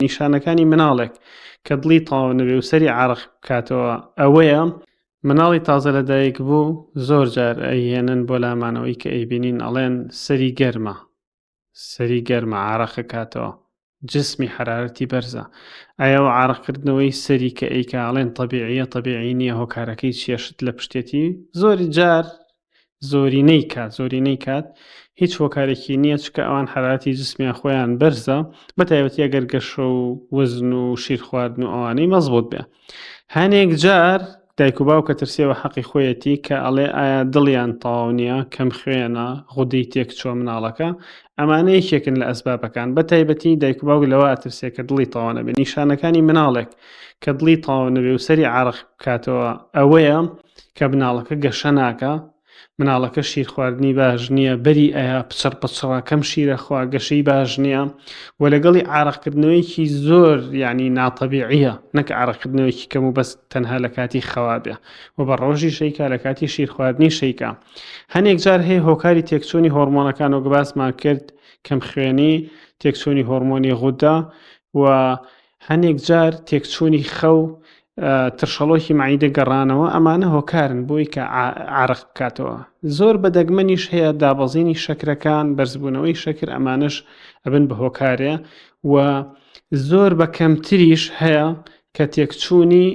نیشانەکانی مناڵێک کە دڵی تەواو نەبێ و سەری عرق بکاتەوە ئەوەیە مناڵی تازە لە دایک بوو زۆر جار ئەیهێنن بۆ لامانەوەی کە ئەیبینین ئەڵێن سەری گەرمە سەری گەرمە عراقە کاتەوە جسمی حرارەتی بەرزە ئایا و عراقکردنەوەی سەری کە ئەیکاڵێن طببیعە طببیعی نییە هۆکارەکەی چێشت لە پشتێتی زۆری جار زۆرینەی کات زۆرینەی کات هیچ هۆکارێکی نییە چکە ئەوان حراتی جسمیان خۆیان بەرزە بە تایبەتە گەر گەشە و وزن و شیر خواردن و ئەوانەی مەزبوت بێ هەنێک جار دایک و باوکە ترسێەوە حەقی خۆیەتی کە ئەڵێ ئایا دڵیان تەواو نییە کەم خوێنە غودەی تێک چۆ مناڵەکە ئەمانە یەکێکن لە ئەسبابەکان بە تایبەتی دایک و باوک لەوە ئەترسێ کە دڵی تاوانە بێ نیشانەکانی مناڵێک کە دڵی تاوانەبێ و سەری عراق بکاتەوە ئەوەیە کە مناڵەکە گەشە ناکا مناڵەکە شیر خواردنی باش نییە بەری ئەیا پچڕ پچڕە کەم شیرە خوا گەشەی باش نییە و لەگەڵی عراقکردنەوەیکی زۆر ینی ناتەبیعە نەک عراقکردنەوەیکی کەم و بەس تەنها لە کاتی خەوابێ و بە ڕۆژی شەیکا لە کاتی شیر خواردنی شەیکا هەنێک جار هەیە هۆکاری تێکچوونی هۆرمۆنەکان و گباسمان کرد کەم خوێنی تێکچوونی هۆرمۆنی غودا و هەنێک جار تێکچوونی خەو ترشەڵۆکی مەعیدە گەڕانەوە ئەمانە هۆکارن بۆی کە عرق بکاتەوە زۆر بە دەگمەنیش هەیە دابەزینی شەکرەکان بەرزبوونەوەی شەکر ئەمانش ئەبن بە هۆکارێ و زۆر بە کەمتریش هەیە کە تێکچوونی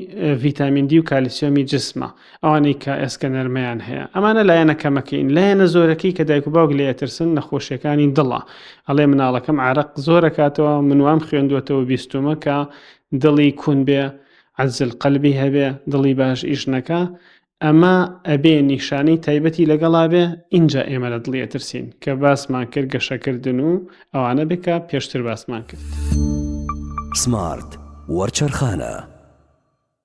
ڤیتامین دی و کالیسیۆمی جسمە ئەوانەی کە ئێسکە نەرمەیان هەیە ئەمانە لایەنە کەمەکەین لایەنە زۆرەکەی کە دایک و باوک لێ ئەترسن نەخۆشیەکانی دڵە ئەڵێ مناڵەکەم عراق زۆرەکاتەوە منوام خوێندوەتەوە بیستمە کە دڵی کون بێ عزل قەلبی هەبێ دڵی باش ئیشنەکە ئەمە ئەبێ نیشانەی تایبەتی لەگەڵا بێ اینجا ئێمە لە دڵی ئەترسین کە باسمان کرد گەشەکردن و ئەوانە بکە پێشتر باسمان کرد سمارت وەرچەرخانە.